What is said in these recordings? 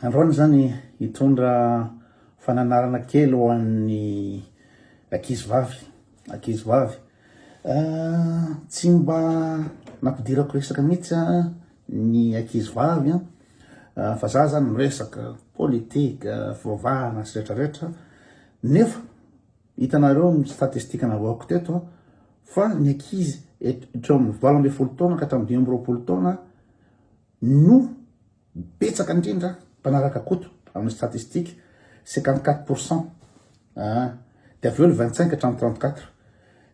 Androany zany hitondra fananarana kely ho an'ny ankizy vavy, ankizy vavy. Tsy mba nampidirako resaka mihitsy ny ankizy vavy fa za zany miresaka politika, fivavahana sy retraretra nefa Hitanareo ny statistika navaoko teto fa ny ankizy eo amin'ny valo ambin'ny folo taona ka hatramin'ny dimy amby roapolo taona no betsaka indrindra mpanaraka Koto amin'ny statistika 54 pour cent ah, dia avy eo ny 25 hatramin'ny 34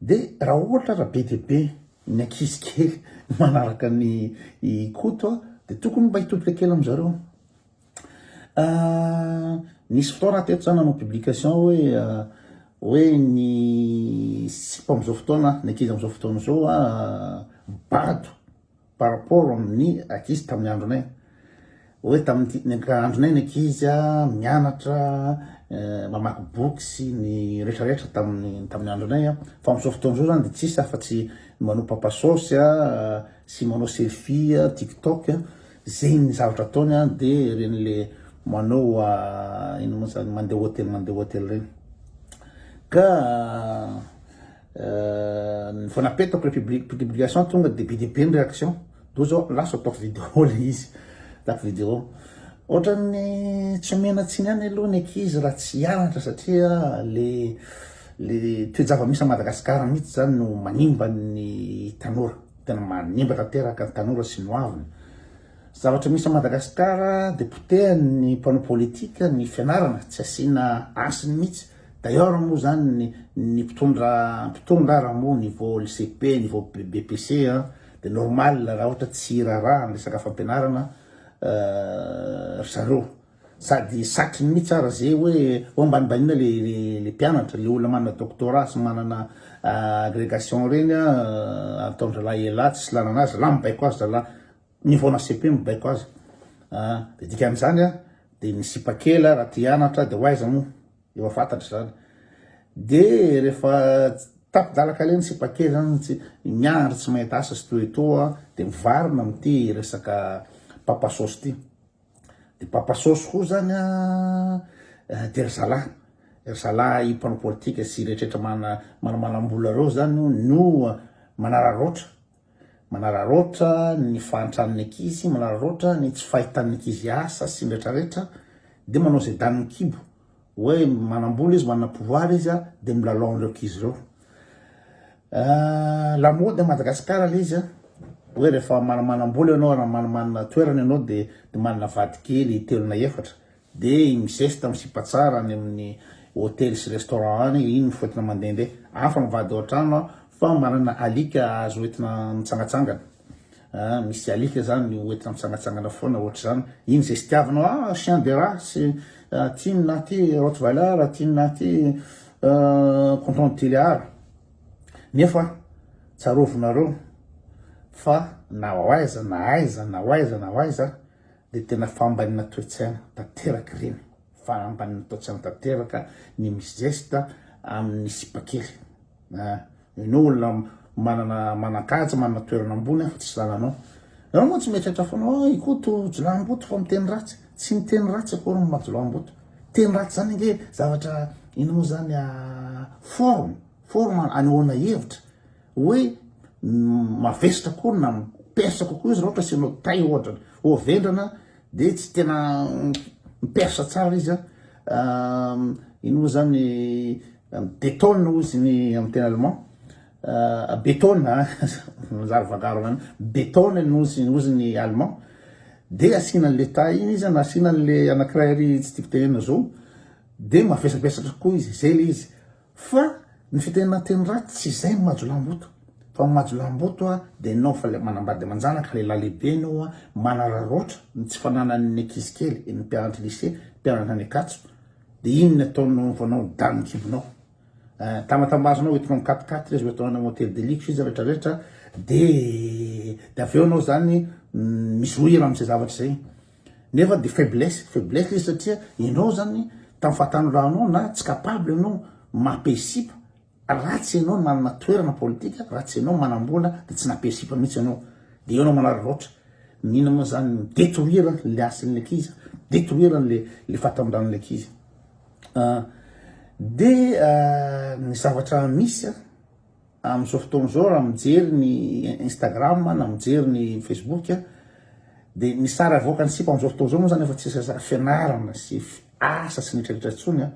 dia raha ohatra raha be dia be ny ankizy kely manaraka ny Koto dia tokony mba hitodika kely amin'izareo Nisy fotoana teto za nanao publication hoe hoe ny sipa am'zao fotoana ny ankizy am'zao fotoana zao bado par rapport amin'ny ankizy tamin'ny andronay hoe tamin'ity ny ank- andronay ny ankizy mianatra mamaky boky sy ny rehetra rehetra tamin'ny tamin'ny andronay a fa am'zao fotoana zao zany de tsisy afa-tsy manao papa saosy sy manao selfie tiktok Zegny zavatra ataony an de regny le manao ino mo zany mandeha hotely mandeha hotely regny ka vao napetako le publication tonga de be de be ny reaction toa zao lasa ataoko video le izy ataoko video ohatran'ny tsy omena tsiny any aloha ny ankizy raha tsy hianatra satria le le toe-java misy a Madagasikara mihitsy zany no manimba ny tanora Tena manimba tanteraka ny tanora sy ny hoaviny. Zavatra misy à Madagascar de potehany ny mpanao politique ny fianarana tsy asiana hasiny mihitsy. D'ailleurs moa zany ny ny mpitondra mpitondra raha moa niveau lycée be niveau BPC a de normal raha ohatra tsy hiraharaha ny resaka fampianarana ry zareo. Sady satry ny mitsy ara ze hoe ho ambanibanina le le mpianatra, le olona manana doctorat sy manana agregation reny a ataondralahy elah tsisy lanana azy, lah mibaiko azy zalah mivaona cepe mibaiko azy a de dikan'izany a de ny sipa kely a raha te hianatra de ho aiza moa efa fantatra zany de rehefa tapi-dalaka le ny sipa kely zany tsy miandry tsy mahita asa sy toetoa de mivarina amty resaka papa sôsy ty. De papa sôsy koa zany a eh, de ry zalahy ry zalahy mpanao politika sy rehetrarehetra mana manamanam-bola reo zany o no manararaotra manararaotra ny fahantran'ny ankizy manararaotra ny tsy fahitan'ny ankizy asa sy ny rehetrarehetra de manao zay danin'ny kibo Hoe manambola izy, manana pouvoir izy a, de milalao an'ireo ankizy ireo. Ah, lamaody à Madagascar ilay izy a, hoe rehefa mana- manambola ianao raha mana- manana toerana ianao de de manana vady kely telo na efatra de i mizesta misipa tsara any amin'ny hotely sy restaurant any, iny mifoetina mandehandeha. Hafa ny vady ao an-trano an, fa manana alika azo entina mitsangatsangana. ah misy alika zany ho entina mitsangatsangana foana ohatr'izany iny zay sitiavinao ah chien de race ah, ty ny na ty rottweiler ty ny na ty ah, canton tilliard nefa tsarovinareo fa na ho aiza na aiza na ho aiza na ho aiza Dia tena fahambanina toe-tsaina tanteraka ireny, fahambanina toe-tsaina tanteraka ny mi-zesta amin'ny sipakely a! Ianao olona manana manan-kaja, manana toerana ambony aho fa tsisy lalanao. Ianao moa tsy mieritreritra foana hoe i Koto jiolahimboto fa miteny ratsy? Tsy miteny ratsy akory ny maha-jiolahimboto. Teny ratsy izany ange zavatra inona moa izany a! Forme, forme anehoana hevitra. Hoe mavesatra koa na persa kokoa izy raha ohatra asianao tay ohatra ho vendrana dia tsy tena mipersa tsara izy an ino moa zany betona hoy izy ny amin'ny teny allemand betona manjary vangarona any betona ny ozy ozy ny allemand dia asiana an'le tay iny izy na asiana an'le anankiray ary tsy tiako tenenina zao dia mavesabesatra kokoa izy zay le izy Fa ny fiteninanteny ratsy tsy izay ny majolamboto fa ny majolamboto a dia nao fa le manambady amanjanaka lehilahy lehibe nao a manararaotra ny tsy fananany ny ankizy kely ny mpianatry lycée mpianatra any Ankatso dia iny ny ataonao vao nao ny danin'ny kibonao eh, tamatambazinao hoentinao mikatikaty le zo atao any hôtel de luxe izy rehetra rehetra dia dia avy eo nao zany mm, mizohira amin'izay zavatra izay Nefa dia faiblesse, faiblesse izy satria ianao zany tamin'ny fahatanoranao na tsy capable ianao mampihesipa raha tsy ianao manana toerana politika, raha tsy ianao manam-bola dia tsy nampihesipa mihitsy ianao. Dia eo ianao manararaotra. Mino moa zany ny détruire le hasin'ilay ankizy, détruire le le fahatanoran'ilay ankizy. Dia ny zavatra misy Amin'izao fotoana izao raha mijery ny Instagram na mijery ny Facebook dia ny sary avoakan'ny sipa amin'izao fotoana izao moa izany efa tsy sary fianarana sy asa sy nitraritra intsony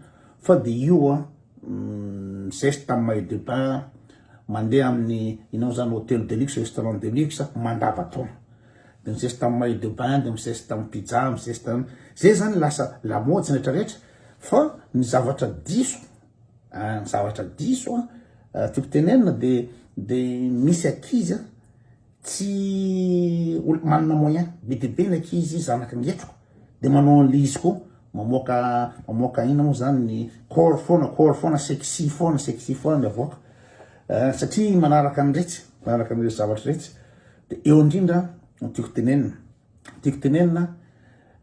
fa dia io mm, zeste amin'ny maillot de bain mandeha amin'ny inao izany hôtel de luxe, restaurant de luxe mandavataona dia mizesta amin'ny maillot de bain dia mizesta amin'ny pizza mizesta izay izany lasa lamaody sy rehetra rehetra fa ny zavatra diso Ny zavatra diso tiako tenenina dia dia misy ankizy tsy olona manana moyen, be dia be ny ankizy zanaky ny hetroka dia manao an'ilay izy koa, mamoaka mamoaka inona moa zany ny corps foana corps foana, sexy foana sexy foana ny avoaka satria manaraka an'iretsy manaraka an'iretsy zavatra iretsy dia eo indrindra no tiako tenenina. Tiako tenenina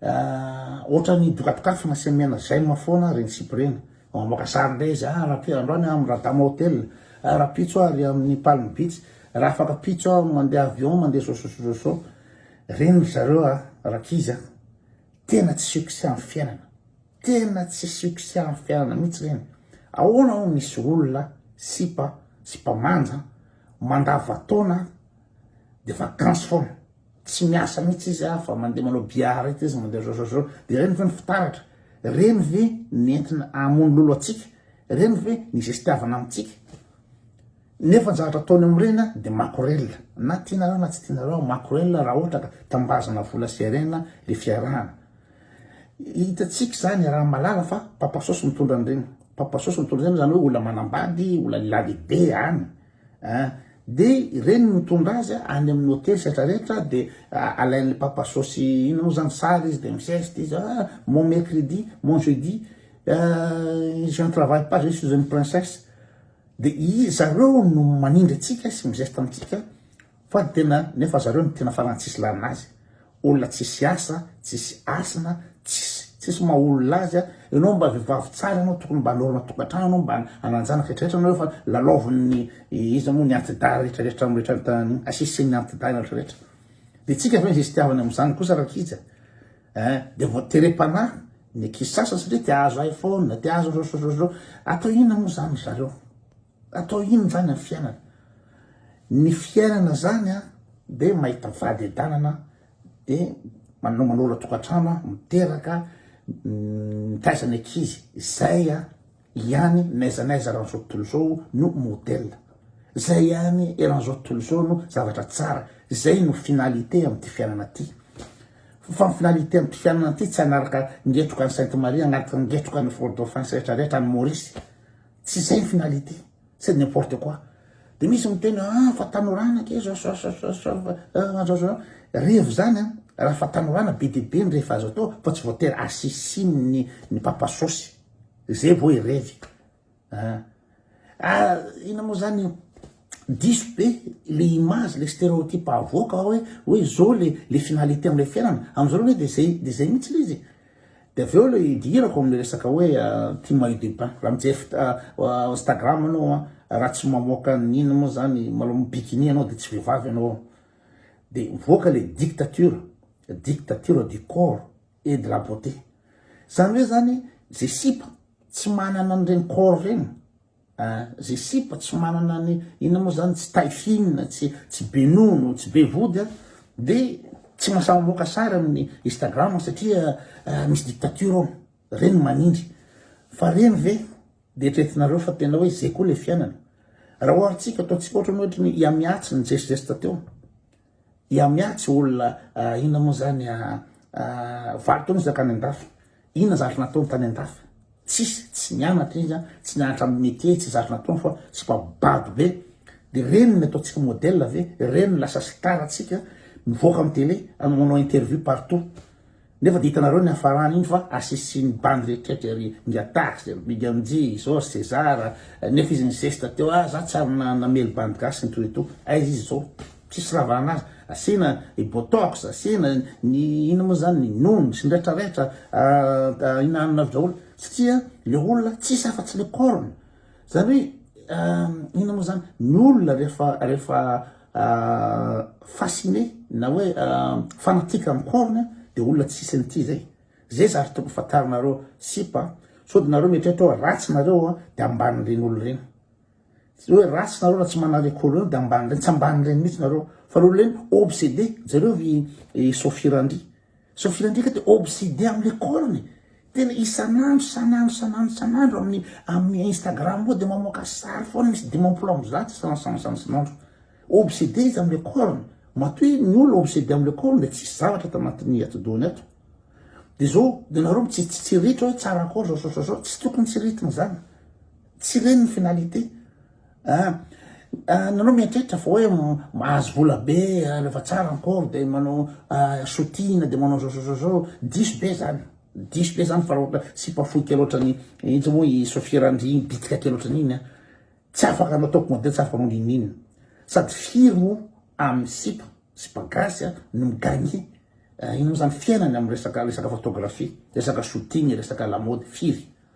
ah, ohatran'ny dokadokafana sy amena j'aime foana reny sipa reny. Mamoaka sary ndray izy, ah rapi andro any amin'ny Radama Hotel, ah rapitso ah ry amin'ny Palm Beach, raha afaka pitso ah mandeha avion mandeha sososososo. Reny ry zareo ah, rankizy ah. Tena tsy succès amin'ny fiainana. Tena tsy succès amin'ny fiainana mihitsy reny. Ahoana hono misy olona sipa, sipa manja, mandavataona dia vacances foana. Tsy miasa mihitsy izy a, fa mandeha manao billard eto izy, mandeha zozozoo. Dia ireny ve ny fitaratra? Ireny ve ny entina hamono lolo antsika? Ireny ve ny zestiavana amintsika? Nefa ny zavatra ataony amin'ireny a, dia makorelina. Na tianareo na tsy tianareo, makorelina raha ohatra ka tambazana vola sy harena ilay fiarahana. Hitantsika izany iaraha malala fa papasôsy mitondra an'ireny. Papasôsy mitondra an'ireny izany hoe olona manambady, olona lehilahy lehibe any. An! Dia ireny mitondra azy any amin'ny hotely setra rehetra dia alain'ilay papa saosy inona moa izany sary izy dia mi-geste izy ah mon mercredi, mon jeudi ah je ne travaille pas, je suis une princesse dia izy zareo no manindry antsika sy mi-geste amintsika Fa ny tena nefa zareo no tena farany tsisy lalana azy olona tsisy asa tsisy hasina tsisy tsisy maha olona azy a enao mba vevavy tsara enao tokony mba norma tokatrano enao mba ananjanaka retraretra anao efa lalaovin'ny iza moa ny antidahy retraretra amretraretra asisin'ny antidahy retraretra de tsika ve misy tiavany am'zany kosa rakija eh de vao terepanahy ny kisasa satria te azo iphone te azo atao inona moa zany zareo Atao inona izany ny fiainana? Ny fiainana izany dia mahita vady adanana dia manao manola tokantrano, miteraka, mitaiza ny ankizy, izay ihany n'aiza n'aiza eran'izao tontolo izao no modèle, izay ihany eran'izao tontolo izao no zavatra tsara, izay no finalité amin'ity fiainana ity. Fa ny finalité amin'ity fiainana ity tsy hanaraka ngetroka an'i Sainte Marie, hanaraka ngetroka an'i Fort-de-France rehetra rehetra, any Maurice. Tsy zay ny finalité, c'est n'importe quoi. Dia misy miteny hoe ah fa tanorana ake zao zao zao zao zao fa ah, zao zao. Revo zany an, raha fa tanorana be dia be ny rehefa azo atao fa tsy voatery asisin'ny ny papa sosy. Zay vao irevy. Ah, ah ina moa zany io? diso be le image le stereotype avoaka ao hoe hoe zao le le finalité amle fiainana amzao aloha de zay de zay mihitsy le izy de avy eo le idirako amle resaka hoe euh, ty maillot de bain raha mijery euh, euh, instagram anao raha tsy mamoaka ny ina moa zany malo mibikini anao de tsy vehivavy anao de voaka le dictature dictature du corps et de la beauté zany hoe zany ze sipa tsy manana an'ireny corps regny Ah ze sipa tsy manana ny inona moa zany tsy taille fine tsy tsy be nono tsy be vody a de tsy mahasahy mamoaka sary amin'ny Instagram satria misy dictature ao reny manindry fa reny ve de eritreretinareo fa tena hoe ze koa le fiainana raha oharintsika ataontsika ohatran'ny hoe ohatran'ny i Amy Atsy nizesizesita teo. Dia miatsy olona inona moa zany a valo taona izy nankany andafy inona zavatra nataony tany andafy tsisy tsy nianatra izy a tsy nianatra amin'ny métier tsy zavatra nataony fa tsy mba bado be de reny ny ataontsika modèle ve reny lasa star atsika mivoaka amin'ny télé manao interview partout Nefa dia hitanareo ny hafarany iny fa asisin'ny bandy rehetrrehetra ry Ingahy Tax, ry Big MJ, Jos, Cesar, nefa izy nizesta teo ah za tsy ary namely bandy gasy nitohy eto, aiza izy zao? tsisy raha vahana azy, asiana i Botox, asiana ny inona moa zany ny Noun sy ny retraretra ah, ah, hinaninareo draholy, satria le olona tsisy afa tsy le corne, Zany hoe inona moa zany ny olona rehefa rehefa fasciné na hoe fanatique amin'ny corne dia olona tsy hisy an'ity zay. Zay zary tokony fantarinareo sipa sao dia nareo mieritreritra hoe ratsy nareo dia ambanin'ireny olona ireny. Tsy hoe ratsy nareo raha tsy manana le corne dia ambanin'ireny, tsy ambanin'ireny mihitsy nareo fa le olona ireny obsédé, jereo i Sophie Randria. Sofia ndreka de obsede am le corn e, tena isanandro sanandro sanandro sanandro aminy aminy instagram ao de mamoaka sary foana misy dimampolo amby zato isan san sanandro obsede izy am le corn matoa hoe ny olona obsede am le corn de tsisy zavatra ato anatiny atidohany ato de zao de nareo mitsitsitsiritra hoe tsara akory zao zao zao zao tsy tokony tsiritina zany Tsy ireny ny finalité ah nanao mieritreritra fa hoe mahazo vola be rehefa tsara ny pauvre de manao sotina de manao zozozozoo diso be zany diso be zany fa raha ohatra sipa fohy kely ohatrany intsy moa i Sofia Randria iny bitika kely ohatrany iny a tsy afaka anao top model tsy afaka anao ninina sady firy moa amin'ny sipa sipa gasy a no migagner ino moa zany fiainany amin'ny resaka resaka photographie resaka sotina resaka lamody firy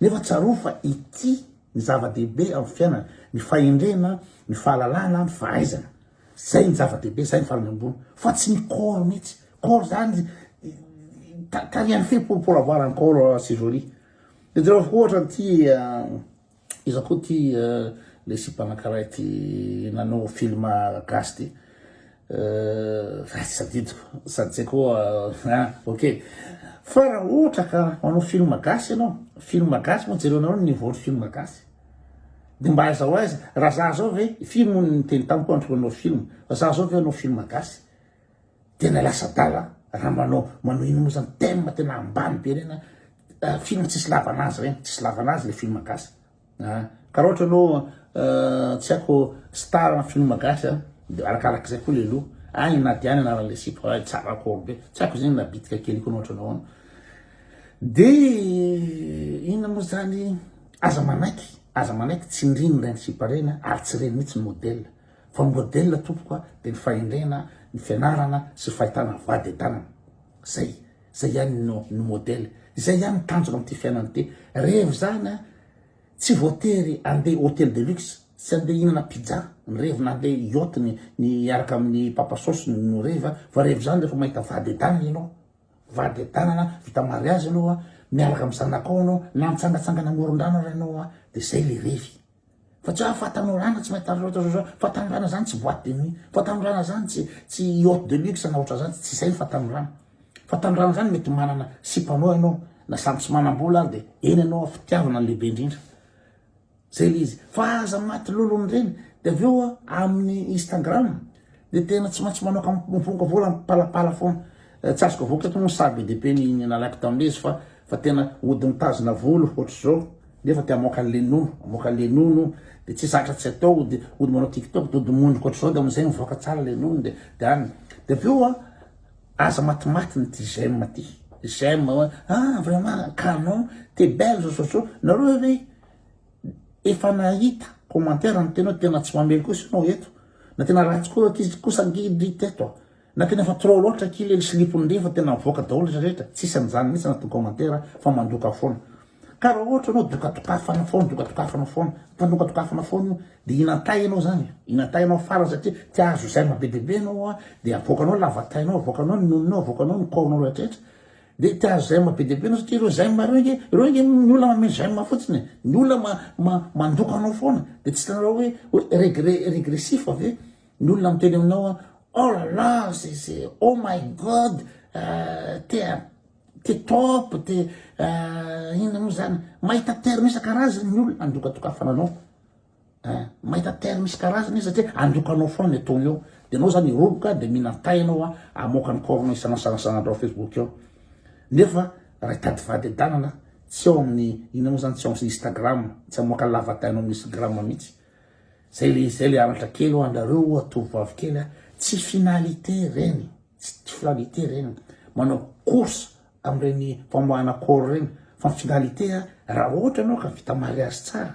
Nefa tsarovy fa ity ny zava-dehibe amin'ny fiainana, ny fahendrena, ny fahalalana, ny fahaizana. Zay ny zava-dehibe, zay ny farany ambony. Fa tsy ny corps mihitsy. Corps zany ta- tarihan'ny fe pour, pour avoir un corps assez joli. Dia jereo ohatra an'ity ah, iza koa ity ah, le sipan'ankara ity nanao film gasy ity. Euh, ratsy sadidiko sady zay koa euh, ah, ok fa raha ohatra ka manao film gasy ianao film gasy moa jerenao ny niveau film gasy de mba aiza ho aiza raha za zao ve film ny teny tamiko andriko anao film fa za zao ve anao film gasy tena lasa dala raha manao manao ino moa zany thème tena ambany be reny euh, film tsisy lavana azy reny tsisy lavana azy le film gasy Ah, ka raha ohatra ianao ah, tsy haiko star na film gasy ah, dia arakarak'izay koa ilay loha. Ah, i Nadia ny anaran'ilay sipa, ah, tsara akory be. Tsy haiko izay na bitika kely koa na ohatra anao ano. Dia inona moa izany, aza manaiky, aza manaiky tsy ndriny ireny sipa ireny ah, ary tsy ireny mihitsy ny modèle. Fa ny modèle tompoko ah, dia ny fahendrena, ny fianarana sy ny fahitana vady an-tanana. Zay. Zay ihany no no modèle. Zay ihany ny tanjona amin'ity fiainana ity. Revo izany a, tsy voatery andeha hôtel de luxe, tsy andeha hihinana pizza ny revo na andeha yacht ny ny hiaraka amin'ny papa sauce no revo a, fa revo izany rehefa mahita vady edanana ianao, vady edanana vita mariazy ianao a, miaraka amin'ny zanakao ianao na mitsangatsangana amoron-drano ary ianao a, de zay le revy. Fa tsy hoe fatanorana tsy maintsy tandrina ohatr'izao zao. Fatanorana zany tsy boîte de nuit. Fatanorana zany tsy tsy yacht de luxe na ohatr'izany, tsy izay ny fatanorana. Fatanorana zany mety manana sipanao ianao na samy tsy manam-bola ary dia eny ianao amin'ny fitiavana ny lehibe indrindra. Zay le izy. Fa aza maty lolon'ireny. Dia avy eo amin'ny Instagram, Dia tena tsy maintsy manao kampomponka vola mipalapala foana. Eh, tsy azoko avoaka eto moa ny sary be dia be ny ny nalaiko tamin'izy fa fa tena ody mitazona volo ohatr'izao nefa te hamoaka le nono, hamoaka le nono dia tsy zatra tsy atao ody ody manao tiktok dia ody mondrika ohatr'izao dia amin'izay mivoaka tsara le nono dia dia any. Dia avy eo a aza matimaty ny ty j'aime ty. J'aime hoe ah vraiment canon, t'es belle zao zao zao. Nareo ve Efa nahita commentaire niteny hoe tena tsy mamely kosa ianao eto, na tena ratsy koa ankizy kosa angidy teto a! na tena efa trop loatra ki le slipony ndry efa tena mivoaka daholo izy rehetra, tsisy an'izany mihitsy anatin'ny commentaire fa mandoka foana. Ka raha ohatra ianao dokatokafana foana, dokatokafana foana, mpanokatokafana foana io, dia hinan-tay ianao izany e! hinan-tay ianao farany satria te hahazo zaimabe dia be ianao a! dia avoakanao ny lavatainao, avoakanao ny nononao, avoakanao ny corps-nao rehetrarehetra, Dia te hahazo j'aime be dia be ianao satria ireo j'aime ireo ange, ireo ange ny olona manome j'aime fotsiny e, ny olona mandoko anao foana, dia tsy hitanareo hoe regret régressif ve, ny olona miteny aminao hoe oh là là c'est c'est oh my God t'es un t'es top t'es inona moa izany, mahita terme isan-karazany ny olona handokadokafana anao. Hein? Mahita terme isan-karazany izy satria androka anao foana le ton eo. Dia anao zany hiroboka dia mihinan tay anao a, hamoaka ny corps-nao isan'asan'asan'andro ao Facebook eo. Nefa raha hitady fahadedanana tsy ao amin'ny inona moa zany tsy ao Instagram, tsy hamoaka ny lavatainao amin'ny Instagram mihitsy. Zay le zay le anatra kely ho anareo oa tovovavy kely a, tsy finalité reny, tsy finalité reny manao course amin'ireny famoahana corps ireny fa ny finalité raha ohatra ianao ka vita mariage tsara